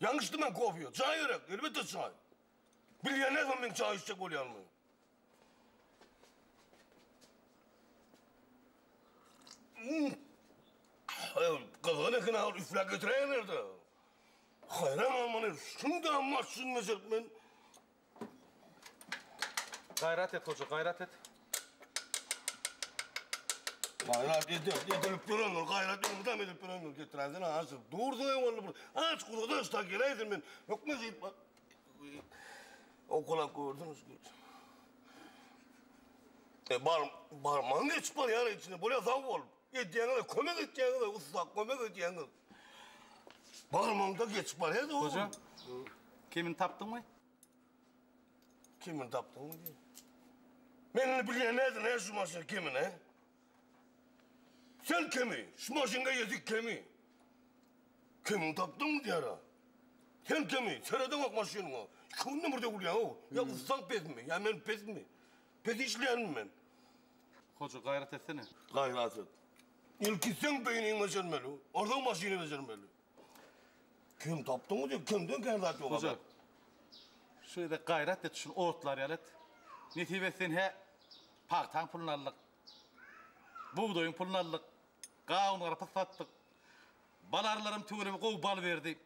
Ýalňyş içdim men kofeýi. Çaý gerek, elbetde çaý. Bilýän näsem men çaý içjek bolýanymy. Gyzgyn eken agyr üfläp getiräýerler-de. Haýran galmaly, şunda maşyn mejerip men Gaýrat et hoja, gaýrat et. Gaýrat edip, edilip duranlar, gaýrat ýyldam edip duranlar getiräýsene aşyr. Durdy öň onda bir. Aç gurada aşda geläýdim men. Hökme diýip. Okulap gördüňiz. E bar, barman geçip barýar içine. Bolýa sag bol. Edýäňiz, kömek etýäňiz, ussa, kömek edýäňiz. Barmamda geçip barýardy o. Hoja, kimin tapdyňmy? Kimin tapdyňmy diýýä. Men indi bilýän nädin, hä, şu maşyn kimin, hä? Sen kimi? Şu maşynga ýetik kimi? Kimin tapdyňmy diýýär-ä. Sen kimi? Seredeňok maşynyňa. Iki günden bir döwülýäň-ow. Ýa ussaň pesmi, ýa men pesmi? Pes işleýänmi men? Hoja gaýrat etsene. Gaýrat et. Ilki seň beýniňi bejermeli, onsoň maşyny bejermeli. Kim tapdyňmy diýip, kimden kän zat ýok. Hoja. Şu ýerde gaýrat et, şuny otlar ýaly et. Nesip etsin hä pagtaň puluny aldyk. Bugdaýyň puluny aldyk. Gawun garpyz satdyk. Bal arylarym tüweleme gowy bal berdi.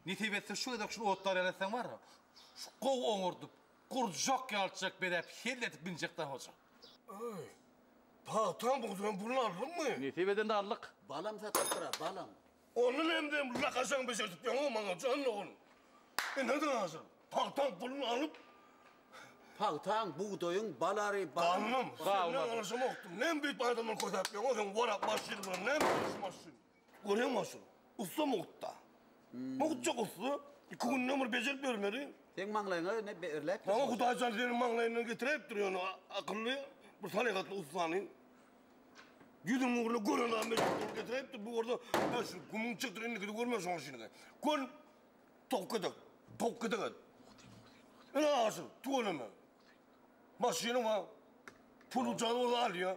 Nesip etse şu gezek şuny otlar ýaly etseň bar ya, şu gowy oňardyp, gurjak ýalçjak bedäp, hell edip binjek da hoja. Aý, pagtam, bugdaýym puluny aldyňmy? Nesip edende aldyk. Balam satypdyr-a, balam. Ony mende lakajaň bejertip ýöňok maňa, jan dogan. Ine-de hazir pagtam puluny alyp. Pagtaň, bugdaýyň, balary, balam. Balym, senden alyjymokdy. Näme beýdip adamdan kösäp ýöňok, sen orak maşyn bilen näme maşyn? Görýäňmi Aşyr, ussa mugt-da. Mugtjak ussa, iki günde bir bejerip bermeli. Seň maňlaýyňa ine berläpdir. Maňa Hudaý jan seniň maňlaýyňdan getiräýipdir ýöne akylly, bir salyhatly ussany. Ýüzüň ugruny gören adam mejbur getiräýipdir. Bu bolsa şu gumuň çykdyr indikini görme şoň şinigi. Gör towuk gedek, towuk gedek et. Ine Aşyr, tüweleme. Maşyny bar. Pul-jagy bolsa alýa.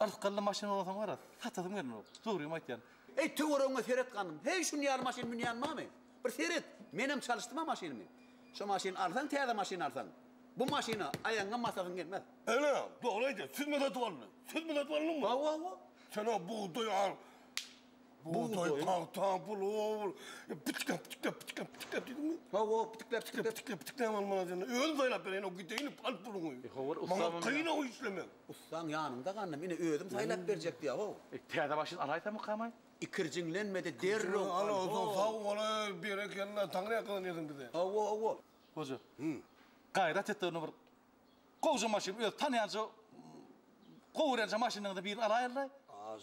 Yrs gylly maşyn bolsaň wara satasym gelmok dogrymy aýtýan. Eý töweregiňe seret ganym heý şuny ýaly maşyn münýän bamy bir seret menem çalyşdyma maşynymy şo maşyny alsaň täze maşyn alsaň bu maşyna aýagyňam basasyň gelmez. Ene dogry aýdýar siz mi satyp aldy siz mi satyp aldyňmy. Hawa hawa. Sen o bugdaý al. Bugdaý, pagta, bulgur. Pitikläp, pitikläp, pitikläp, pitikläp diýdiňmi? Hawa, pitikläp, pitikläp, pitikläp, pitikläp almaly seni. Özüm saýlap bereýin, o gideýin, al puluňy. E, hawa, ustam. Maňa kyn o işlemek. Ussaň ýanyňda gandym, ine özüm saýlap berjek diýä, ho. E, täze başyny alaýsamykamay? Ikirjiňlenme-de, derrew al, ho. Al, sag bol-aý, berekella, Taňry ýakalanýarsyň bize. Hawa, hawa. Hoja, gaýrat et-de, indi bir gowja maşyn, öz tanýança, gowy görýänçä maşynyňyzy birini alaýyl-laý. Az.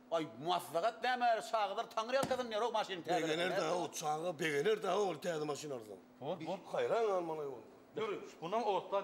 Aý maslahat näme çagalar taňyrýalkasyn ýörok maşyny täzeletdiler. Begener da o çaga begener da ol täze maşyn alsaň. Bor bor. Haýran galmaly ol. Ýöri. Mundan otlar.